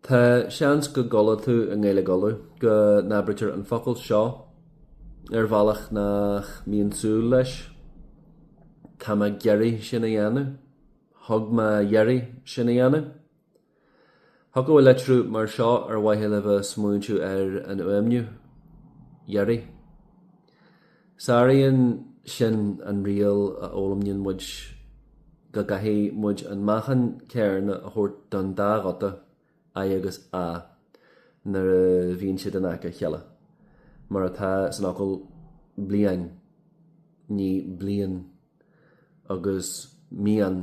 Tá seans go gcuala tú i nGaeilge Uladh go n-abraítear an focal seo ar bhealach nach mbíonn súil leis. Tá mé ag iarraidh sin a dhéanamh. Thug mé iarraidh sin a dhéanamh. Thiocfadh litriú mar seo ar mhaithe le bheith ag smaointiú ar an fhuaimniú, iarraidh. Sáraíonn sin an riail a fhoghlaimníonn muid go gcaithfidh muid an meáchan céarna a thabhairt don dá ghuta, i agus a, nuair a bhíonn siad in aice a chéile, mar atá san fhocal bliain, ní blín, agus mian,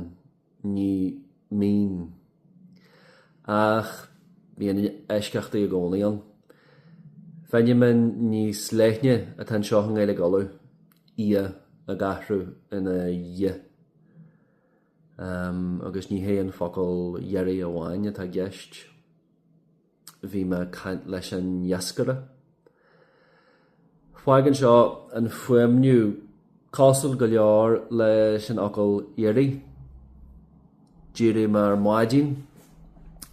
ní mín. Ach bíonn eisceachtaí i gcónaí ann. Feiniméan níos leithne atá anseo i nGaeilge Uladh, ia ag athrú ina ye, agus ní hé an focal iarraidh amháin atá i gceist. Bhí mé ag caint leis an iascaire. Fágann seo an fuaimniú cosúil go leor leis an fhocal éirigh. D'éirigh mé ar maidin,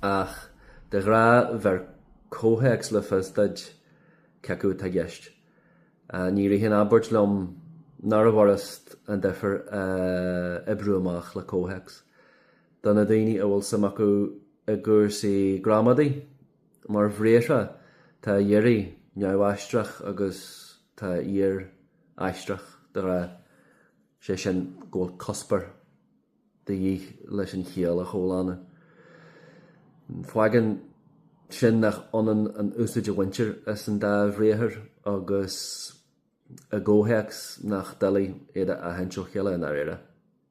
ach de ghnáth bheir comhthéacs le fios duit cé acu atá i gceist. Ní ritheann abairt liom nárbh fhurast an difear a oibriú amach le comhthéacs. do na daoine a bhfuil suim acu i gcúrsaí gramadaí. Mar bhriathra, tá éirigh neamhaistreach agus tá iarr aistreach, de ghnáth, sé sin go bhfuil cuspóir de dhíth leis an chiall a chomhlánú. Fágann sin nach ionann an úsaid a bhaintear as an dá bhriathar agus i gcomhthéacs nach doiligh iad a aithint ó chéile i ndáiríre.